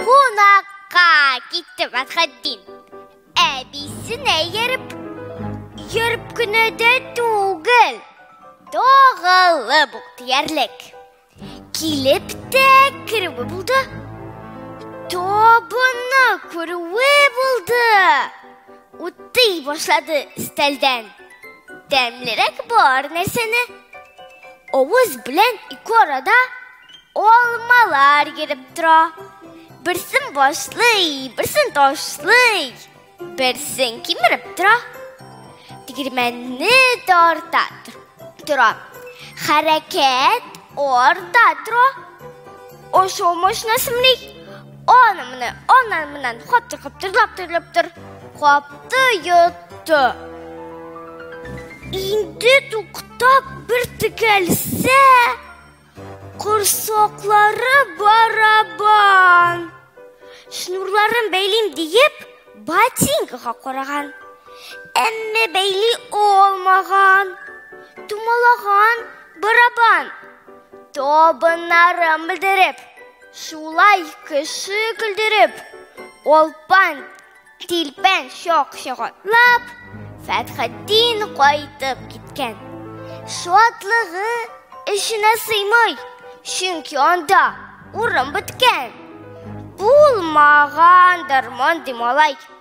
Кунакка китте Мәсхәддин. Әбисенә йөреп, йөреп кенә дә түгел. Тагылып ук диярлек. Килеп тә керүе булды. Табынны күрүе булды. Утый башлады өстәлдән. Тәмлерәк бар нәрсәне авыз белән ике арада алмалар йөреп тора. Берсен башлый, берсен ташлый, берсен кимереп тора. Тегермәнне тарта тора. Хәрәкәт арта тора. Ашау машинасымный Аны менә, аннан менән хатты каптырлап төрләп тор. Капты йотты. Инде туктап бер текәлсә, корсаклары барабан. Шнурларын бәйлим диеп, ботинкага караган. Әмма бәйли алмаган. Тумалаган барабан. Табыннарын белдереп, Шулай кеше көлдереп, олпан тилпән чак чагатлап, Фәтхетдин кайтып киткән. Шатлыгы эченә сыймый, чөнки анда урын беткән. Булмагандыр мондый малай.